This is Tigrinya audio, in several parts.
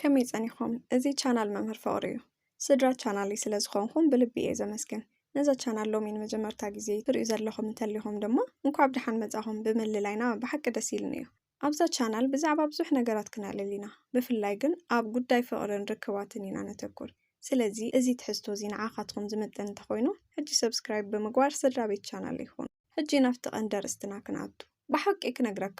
ከመይ ጸኒኹም እዚ ቻናል መምህር ፍቕሩ እዩ ስድራ ቻናለይ ስለ ዝኾንኹም ብልቢ እየ ዘመስግን ነዛ ቻናል ሎሚ ንመጀመርታ ግዜ ትሪኡ ዘለኹም እንተሊኹም ድማ እንኳዕ ብደሓን መጻኹም ብምልላይና ብሓቂ ደስ ኢሉኒ እዩ ኣብዛ ቻናል ብዛዕባ ብዙሕ ነገራት ክነዕልል ኢና ብፍላይ ግን ኣብ ጉዳይ ፍቕርን ርክባትን ኢና ነተኩር ስለዚ እዚ ትሕዝቶ እዚ ንዓኻትኩም ዝምጥን እንተኾይኑ ሕጂ ሰብስክራይብ ብምግባር ስድራ ቤት ቻናል ይኹኑ ሕጂ ናብቲ ቀንዲ ኣርእስትና ክንኣቱ። ብሓቂ ክነግረካ፣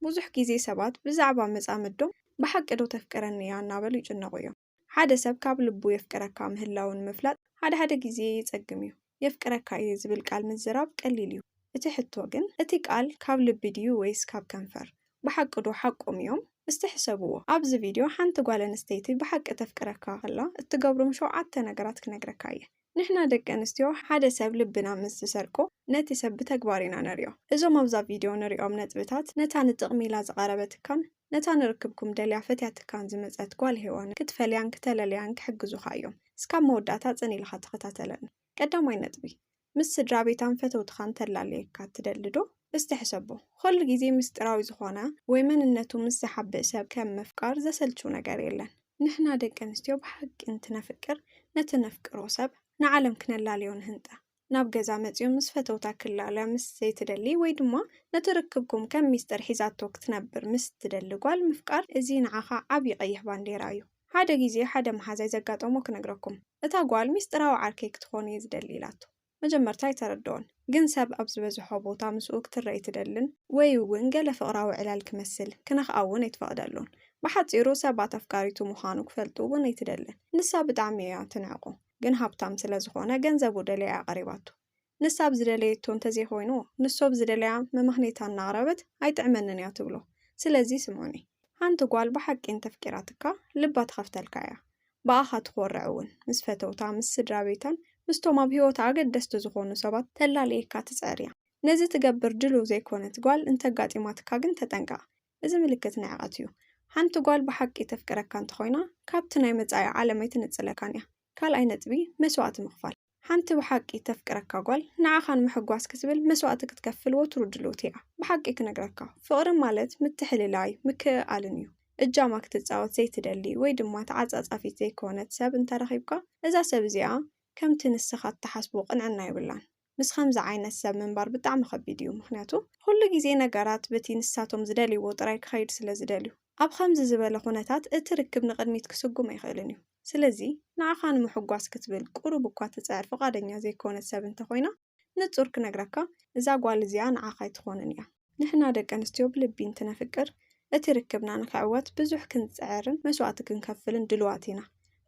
ብዙሕ ግዜ ሰባት ብዛዕባ መጻምዶም ብሓቂዶ ተፍቅረኒ እያ እናበሉ ይጭነቑ እዮም። ሓደ ሰብ ካብ ልቡ የፍቅረካ ምህላዉ ንምፍላጥ ሓድሓደ ግዜ የጸግም እዩ። የፍቅረካ እየ ዝብል ቃል ምዝራብ ቀሊል እዩ። እቲ ሕቶ ግን እቲ ቃል ካብ ልቢ ድዩ ወይስ ካብ ከንፈር? ብሓቂዶ ሓቆም እዮም? እስቲ ሕሰብዎ። ኣብዚ ቪድዮ ሓንቲ ጓል ኣንስተይቲ ብሓቂ ተፍቅረካ ከላ እትገብሮም ሸውዓተ ነገራት ክነግረካ እየ። ንሕና ደቂ ኣንስትዮ ሓደ ሰብ ልብና ምስ ዝሰርቆ ነቲ ሰብ ብተግባር ኢና ነርእዮ። እዞም ኣብዛ ቪድዮ ንርእዮም ነጥብታት ነታ ንጥቕሚ ኢላ ዝቐረበትካን ነታ ንርክብኩም ደልያ ፈትያትካን ዝመጸት ጓል ሄዋንን ክትፈልያን ክተለልያን ክሕግዙኻ እዮም። እስካብ መወዳእታ ጽን ኢልኻ ተኸታተለኒ። ቀዳማይ ነጥቢ፣ ምስ ስድራቤታን ፈተውትኻን ተላልየካ ትደሊዶ? እስቲ ሕሰቦ፣ ኹሉ ግዜ ምስጢራዊ ዝኾነ ወይ መንነቱ ምስ ዝሓብእ ሰብ ከም ምፍቃር ዘሰልቹ ነገር የለን። ንሕና ደቂ ኣንስትዮ ብሓቂ እንትነፍቅር ነቲ ነፍቅሮ ሰብ ንዓለም ክነላልዮ ንህንጠ። ናብ ገዛ መጺኡ ምስ ፈተውታ ክላለ ምስ ዘይትደሊ ወይ ድማ ነቲ ርክብኩም ከም ሚስጥር ሒዛቶ ክትነብር ምስ ትደሊ ጓል ምፍቃር እዚ ንዓኻ ዓቢ ቀይሕ ባንዴራ እዩ። ሓደ ግዜ ሓደ መሓዛይ ዘጋጠሞ ክነግረኩም። እታ ጓል ሚስጥራዊ ዓርከይ ክትኾን'የ ዝደሊ ኢላቶ። መጀመርታ ኣይተረድኦን፣ ግን ሰብ ኣብ ዝበዝሖ ቦታ ምስኡ ክትረኣይ ትደልን ወይ'ውን ገለ ፍቕራዊ ዕላል ክመስል ክነኽኣ'ውን ኣይትፈቕደሉን። ብሓጺሩ ሰባት ኣፍቃሪቱ ምዃኑ ክፈልጡ'ውን ኣይትደልን። ንሳ ብጣዕሚ እያ ትንዕቆ፣ ግን ሃብታም ስለ ዝኾነ ገንዘቡ ደልያ እያ ቀሪባቶ። ንሳ ብ ዝደለየቶ እንተዘይኮይኑ ንሱ ብ ዝደለያ መመኽኔታ እናቕረበት ኣይጥዕመንን እያ ትብሎ። ስለዚ ስምዑኒ። ሓንቲ ጓል ብሓቂ እንተፍቂራትካ ልባ ትኸፍተልካ እያ። ብኣኻ ትኾርዕ እውን። ምስ ፈተውታ፣ ምስ ስድራቤታን ምስቶም ኣብ ህይወታ ኣገደስቲ ዝኾኑ ሰባት ተላልየካ ትጽዕር እያ። ነዚ ትገብር ድሉው ዘይኮነት ጓል እንተ ኣጋጢማትካ ግን ተጠንቀቕ። እዚ ምልክት ንዕቀት እዩ። ሓንቲ ጓል ብሓቂ ተፍቅረካ እንተኾይና ካብቲ ናይ መጻኢ ዓለም ኣይትንጽለካን እያ። ካልኣይ ነጥቢ፣ መስዋእቲ ምኽፋል። ሓንቲ ብሓቂ እተፍቅረካ ጓል ንዓኻ ንምሕጓስ ክትብል መስዋእቲ ክትከፍል ወትሩ ድልውቲ እያ። ብሓቂ ክነግረካ፣ ፍቕሪ ማለት ምትሕልላይ፣ ምክእኣልን እዩ። እጃማ ክትጻወት ዘይትደሊ ወይ ድማ ተዓጻጻፊት ዘይኮነት ሰብ እንተ ረኺብካ፣ እዛ ሰብ እዚኣ ከምቲ ንስኻ እትሓስቦ ቅንዕና የብላን። ምስ ከምዚ ዓይነት ሰብ ምንባር ብጣዕሚ ከቢድ እዩ፣ ምኽንያቱ ኹሉ ግዜ ነገራት በቲ ንሳቶም ዝደልይዎ ጥራይ ክኸይድ ስለ ዝደልዩ። ኣብ ኸምዚ ዝበለ ኹነታት እቲ ርክብ ንቕድሚት ክስጉም ኣይኽእልን እዩ። ስለዚ፣ ንዓኻ ንምሕጓስ ክትብል ቁሩብ እኳ ትጽዕር ፍቓደኛ ዘይኮነት ሰብ እንተ ኾይና፣ ንጹር ክነግረካ፣ እዛ ጓል እዚኣ ንዓኻ ኣይትኾንን ኢያ። ንሕና ደቂ ኣንስትዮ ብልቢ እንትነፍቅር፣ እቲ ርክብና ንኽዕወት ብዙሕ ክንጽዕርን መስዋእቲ ክንከፍልን ድሉዋት ኢና።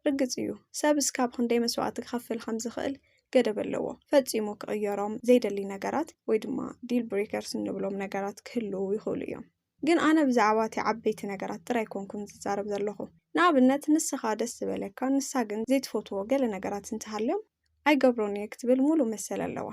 ርግጽ ኢዩ፣ ሰብ እስካብ ኽንደይ መስዋእቲ ክኸፍል ኸም ዝኽእል ገደብ ኣለዎ። ፈጺሙ ክቕየሮም ዘይደሊ ነገራት ወይ ድማ ዲል ብሬከርስ እንብሎም ነገራት ክህልዉ ይኽእሉ ኢዮም። ግን ኣነ ብዛዕባ እቲ ዓበይቲ ነገራት ጥራይ ኣይኮንኩን ዝዛረብ ዘለኹ። ንኣብነት ንስኻ ደስ ዝበለካ ንሳ ግን ዘይትፈትዎ ገለ ነገራት እንተሃልዮም ኣይገብሮን እየ ክትብል ሙሉእ መሰል ኣለዋ።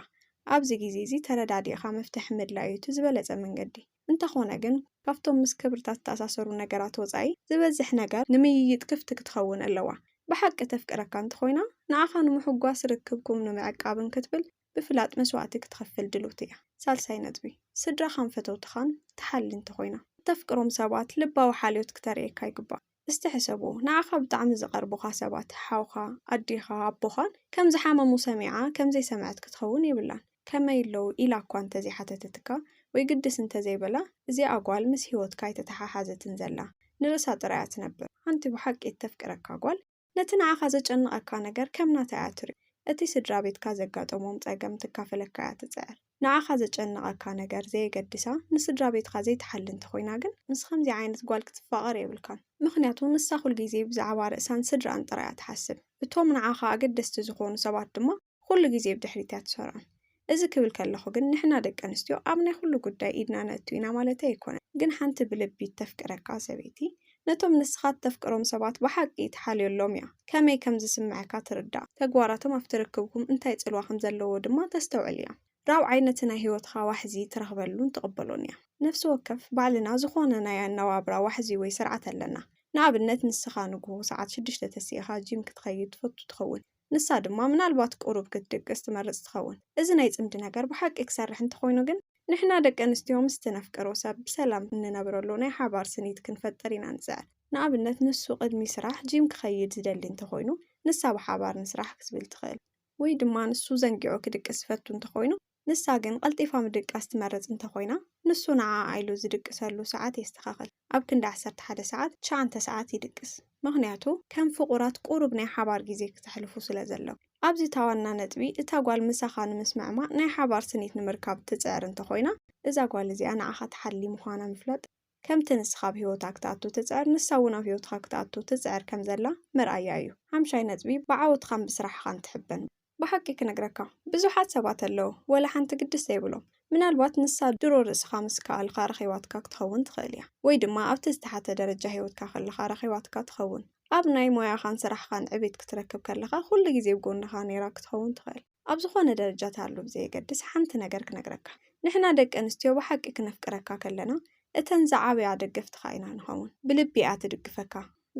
ኣብዚ ግዜ እዚ ተረዳዲእኻ መፍትሒ ምድላይ እዩ እቲ ዝበለጸ መንገዲ። እንተኾነ ግን ካብቶም ምስ ክብርታት ዝተኣሳሰሩ ነገራት ወጻኢ ዝበዝሕ ነገር ንምይይጥ ክፍቲ ክትኸውን ኣለዋ። ብሓቂ ተፍቅረካ እንተኾይና ንዓኻ ንምሕጓስ ርክብኩም ንምዕቃብን ክትብል ብፍላጥ መስዋእቲ ክትኸፍል ድልውቲ እያ። ሳልሳይ ነጥቢ፣ ስድራኻን ፈተውትኻን ትሓሊ እንተኾይና፣ እተፍቅሮም ሰባት ልባዊ ሓልዮት ክተርእየካ ይግባእ። እስቲ ሕሰቦ፣ ንዓኻ ብጣዕሚ ዝቐርቡኻ ሰባት፣ ሓውካ፣ ኣዴኻ፣ ኣቦኻን ከም ዝሓመሙ ሰሚዓ ከም ዘይሰምዐት ክትኸውን የብላን። ከመይ ኣለዉ? ኢላ እኳ እንተ ዘይሓተተትካ ወይ ግድስ እንተ ዘይበላ፣ እዚኣ ጓል ምስ ህይወትካ ኣይተተሓሓዘትን ዘላ፣ ንርእሳ ጥራይ እያ ትነብር። ሓንቲ ብሓቂ እተፍቅረካ ጓል፣ ነቲ ንዓኻ ዘጨንቐካ ነገር ከም ናታ እያ ትሪኦ። እቲ ስድራ ቤትካ ዘጋጠሞም ጸገም ትካፈለካ እያ ትጽዕር። ንዓኻ ዘጨንቐካ ነገር ዘየገድሳ ንስድራ ቤትካ ዘይትሓሊ እንተኾይና ግን ምስ ከምዚ ዓይነት ጓል ክትፋቐር የብልካን። ምኽንያቱ ንሳ ኩልጊዜ ብዛዕባ ርእሳን ስድርኣን ጥራይ እያ ትሓስብ። እቶም ንዓኻ ኣገደስቲ ዝኾኑ ሰባት ድማ ኹሉ ግዜ ብድሕሪት እያ ትሰርዖም። እዚ ክብል ከለኹ ግን ንሕና ደቂ ኣንስትዮ ኣብ ናይ ኹሉ ጉዳይ ኢድና ነእቱ ኢና ማለተይ ኣይኮነን። ግን ሓንቲ ብልቢ እተፍቅረካ ሰበይቲ ነቶም ንስኻ እተፍቅሮም ሰባት ብሓቂ ትሓልዮሎም እያ። ከመይ ከም ዝስምዓካ ትርዳእ። ተግባራቶም ኣብቲ ርክብኩም እንታይ ጽልዋ ከም ዘለዎ ድማ ተስተውዕል እያ። ራብዓይ ነቲ ናይ ህይወትኻ ዋሕዚ ትረኽበሉን ትቕበሎን እያ። ነፍሲ ወከፍ ባዕልና ዝኾነ ናይ ኣነባብራ ዋሕዚ ወይ ስርዓት ኣለና። ንኣብነት ንስኻ ንግሆ ሰዓት ሽዱሽተ ተሲእኻ ጂም ክትኸይድ ትፈቱ ትኸውን። ንሳ ድማ ምናልባት ቁሩብ ክትድቅስ ትመርጽ ትኸውን። እዚ ናይ ጽምዲ ነገር ብሓቂ ክሰርሕ እንተኾይኑ ግን፣ ንሕና ደቂ ኣንስትዮ ምስቲ ነፍቅሮ ሰብ ብሰላም እንነብረሉ ናይ ሓባር ስኒት ክንፈጥር ኢና ንጽዕር። ንኣብነት ንሱ ቅድሚ ስራሕ ጂም ክኸይድ ዝደሊ እንተኾይኑ፣ ንሳ ብሓባር ንስራሕ ክትብል ትኽእል። ወይ ድማ ንሱ ዘንጊዑ ክድቅስ ዝፈቱ እንተኾይኑ፣ ንሳ ግን ቀልጢፋ ምድቃስ ትመርጽ እንተ ኾይና፣ ንሱ ንዓኣ ኢሉ ዝድቅሰሉ ሰዓት የስተኻኽል። ኣብ ክንዲ ዓሰርተ ሓደ ሰዓት፣ ትሽዓንተ ሰዓት ይድቅስ። ምኽንያቱ፣ ከም ፍቑራት ቁሩብ ናይ ሓባር ግዜ ክተሕልፉ ስለ ዘለኩም። ኣብዚ እታ ዋና ነጥቢ፣ እታ ጓል ምሳኻ ንምስምዕማዕ ናይ ሓባር ስኒት ንምርካብ እትጽዕር እንተ ኾይና፣ እዛ ጓል እዚኣ ንዓኻ ትሓሊ ምዃና ምፍላጥ፣ ከምቲ ንስኻ ኣብ ህይወታ ክትኣቱ እትጽዕር፣ ንሳ እውን ኣብ ህይወትኻ ክትኣቱ ትጽዕር ከም ዘላ መርኣያ እዩ። ሓምሻይ ነጥቢ፣ ብዓወትኻን ብስራሕኻን ትሕበን። ብሓቂ ክነግረካ ብዙሓት ሰባት ኣለዉ ወላ ሓንቲ ግድስ ዘይብሎም ምናልባት ንሳ ድሮ ርእስኻ ምስ ከኣልካ ረኺባትካ ክትኸውን ትኽእል እያ ወይ ድማ ኣብቲ ዝተሓተ ደረጃ ሂወትካ ከለኻ ረኺባትካ ትኸውን ኣብ ናይ ሞያኻን ስራሕኻን ዕቤት ክትረክብ ከለኻ ኩሉ ግዜ ብ ጎንኻ ኔራ ክትኸውን ትኽእል ኣብ ዝኾነ ደረጃ ትሃሉ ብዘየገድስ ሓንቲ ነገር ክነግረካ ንሕና ደቂ ኣንስትዮ ብሓቂ ክነፍቅረካ ከለና እተን ዝዓበያ ደገፍትኻ ኢና ንኸውን ብልቢ እያ ትድግፈካ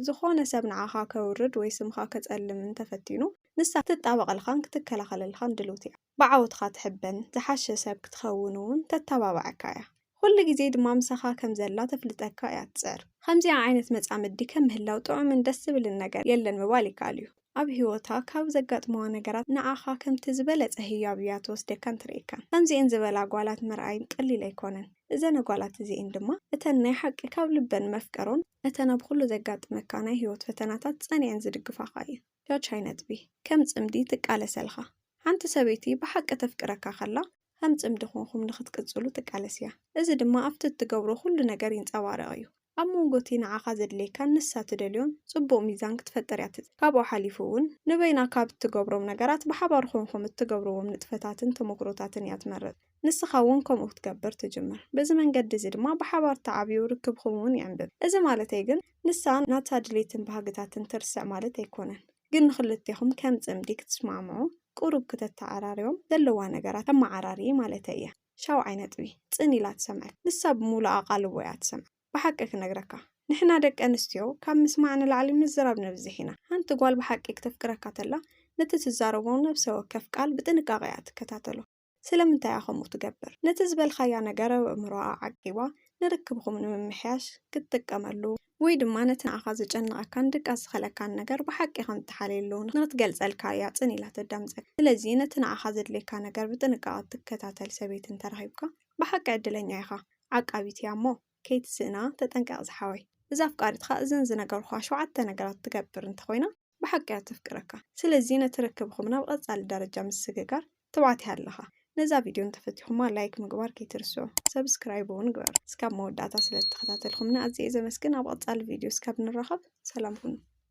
ዝኾነ ሰብ ንዓኻ ከውርድ ወይ ስምኻ ከጸልም እንተፈቲኑ ንሳ ክትጣበቐልኻን ክትከላኸለልኻን ድልውቲ እያ። ብዓወትኻ ትሕበን፣ ዝሓሸ ሰብ ክትኸውን እውን ተተባብዓካ እያ። ኹሉ ግዜ ድማ ምሳኻ ከም ዘላ ተፍልጠካ እያ ትጽዕር። ኸምዚኣ ዓይነት መጻምዲ ከም ምህላው ጥዑምን ደስ ዝብልን ነገር የለን ምባል ይከኣል እዩ። ኣብ ህይወታ ካብ ዘጋጥሙዋ ነገራት ንዓኻ ከምቲ ዝበለጸ ህያብ እያ ትወስደካን ትርእየካን። ከምዚኤን ዝበላ ጓላት ምርኣይ ቀሊል ኣይኮነን። እዘነ ጓላት እዚኤን ድማ እተን ናይ ሓቂ ካብ ልበን መፍቀሮን እተን ኣብ ኹሉ ዘጋጥመካ ናይ ህይወት ፈተናታት ጸኒዐን ዝድግፋኻ እየን። ጃጅ ኣይነጥቢ ከም ጽምዲ ትቃለሰልኻ ሓንቲ ሰበይቲ ብሓቂ ተፍቅረካ ከላ ኸም ጽምዲ ኹንኩም ንኽትቅጽሉ ትቃለስ እያ እዚ ድማ ኣብቲ እትገብሮ ኩሉ ነገር ይንጸባረቕ እዩ ኣብ መንጎ እቲ ንዓኻ ዘድልየካን ንሳ ትደልዮን ጽቡቕ ሚዛን ክትፈጥር እያ ትጽዕር ካብኡ ሓሊፉ እውን ንበይና ካብ እትገብሮም ነገራት ብሓባር ኹንኩም እትገብርዎም ንጥፈታትን ተሞክሮታትን እያ ትመርጽ። ንስኻ እውን ከምኡ ክትገብር ትጅምር። በዚ መንገዲ እዚ ድማ ብሓባር ትዓብዩ፣ ርክብኹም እውን ይዕምብብ። እዚ ማለተይ ግን ንሳ ናታ ድሌትን ባህግታትን ትርስዕ ማለት ኣይኮነን። ግን ንኽልቴኹም ከም ጽምዲ ክትስማዕምዑ፣ ቁሩብ ክተተዓራርዮም፣ ዘለዋ ነገራት ተመዓራርዪ ማለተይ እየ። ሻውዓይ ነጥቢ፣ ጽን ኢላ ትሰምዐካ። ንሳ ብምሉእ ኣቓልቦ እያ ትሰምዕ። ብሓቂ ክነግረካ፣ ንሕና ደቂ ኣንስትዮ ካብ ምስማዕ ንላዕሊ ምዝራብ ነብዝሕ ኢና። ሓንቲ ጓል ብሓቂ ክተፍቅረካ ተላ፣ ነቲ ትዛረቦ ነብሰ ወከፍ ቃል ብጥንቃቐ እያ ትከታተሎ። ስለምንታይ እያ ከምኡ ትገብር? ነቲ ዝበልካያ ነገር ኣብ ኣእምሮኣ ዓቂባ ንርክብኹም ንምምሕያሽ ክትጥቀመሉ፣ ወይ ድማ ነቲ ንዓኻ ዘጨንቐካን ድቃስ ዝኸለካን ነገር ብሓቂ ከም እትሓልየሉ ንኽትገልጸልካ እያ ጽን ኢላ ተዳምጸካ። ስለዚ ነቲ ንዓኻ ዘድልየካ ነገር ብጥንቃቐ እትከታተል ሰበይቲ እንተ ረኺብካ ብሓቂ ዕድለኛ ኢኻ። ዓቃቢት እያ እሞ። ከይትስእና ተጠንቀቅ ዝሓወይ እዛ ኣፍቃሪትካ እዘን ዝነገርኩካ ሸውዓተ ነገራት ትገብር እንተኮይና ብሓቂ እያ ተፍቅረካ ስለዚ ነቲ ርክብኩም ናብ ቀጻሊ ደረጃ ምስግጋር ትብዓት ይሃልኻ ነዛ ቪድዮ እንተፈቲኩማ ላይክ ምግባር ከይትርስዑ ሰብስክራይብ እውን ግበር እስካብ መወዳእታ ስለዝተከታተልኩምኒ ኣዝየ እየ ዘመስግን ኣብ ቀጻሊ ቪድዮ እስካብ ንራከብ ሰላም ኩኑ።